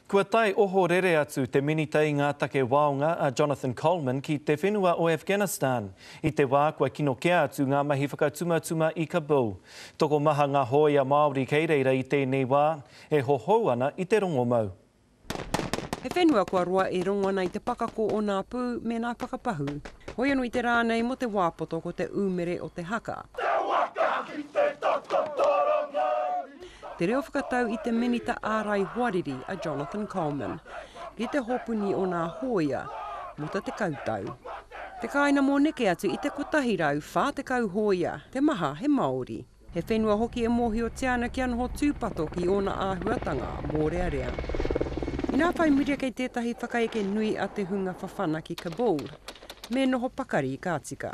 Kua tae ohorere atu te Minita i ngā Take Waonga a Jonathan Coleman ki te whenua o Afghanistan i te wā kua kino kē atu ngā mahi whakatumatuma i Kabul. Tokomaha ngā hōia Māori kei reira i tēnei wā, e hohou ana i te rongomau. He whenua kua roa e rongo ana i te pakako o nā pū me nā whakapahū. Hoi anō i te rā nei mō te wā poto ko te ūmere o te haka. Te reo whakatau i te Minita Ārai Hoariri a Jonathan Coleman, ki te hopuni o nā hōia mō te tekau tau. Te kāina mō neke atu i te 140 hōia, te maha he Māori. He whenua hoki e mōhiotia ana kia noho tūpato ki ōna āhuatanga mōrearea. Inā whai miria kei tētahi whakaeke nui a te hunga Fafana ki Kabul, me noho pakari ka tika.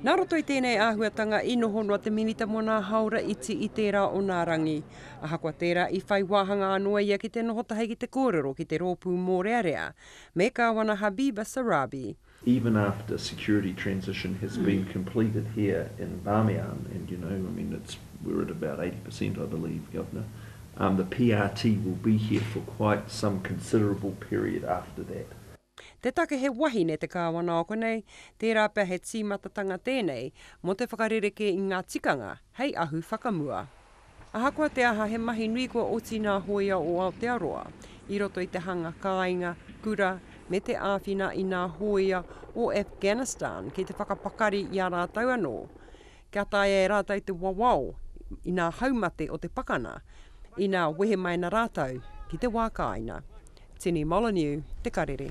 Nā roto i tēnei āhuatanga i noho noa te Minita mō nā hāora iti i tērā o nā rangi. Ahakoa tērā, i whai wāhanga anō ia ki te noho tahi ki te kōrero ki te Rōpū Mōrearea me Kāwana Habiba Sorabi. even after security transition has been completed here in Bamiyan, and you know, I mean, it's, we're at about eighty per cent I believe, Governor, um, the PRT will be here for quite some considerable period after that. Te take he wahine te kāwana o konei, tērā pea he tīmatatanga tēnei mō te whakarerekē i ngā tikanga hei ahu whakamua. Ahakoa te aha he mahi nui kua oti nā hōia o Aotearoa i roto i te hanga kāinga, kura me te āwhina i nā hōia o Afghanistan ki te whakapakari i a rātou anō Kia taea e rātou te wawao i ngā haumate o te pakana, ina wehe mai ana rātou ki te wā kāinga. Tini Molyneux, Te Karere.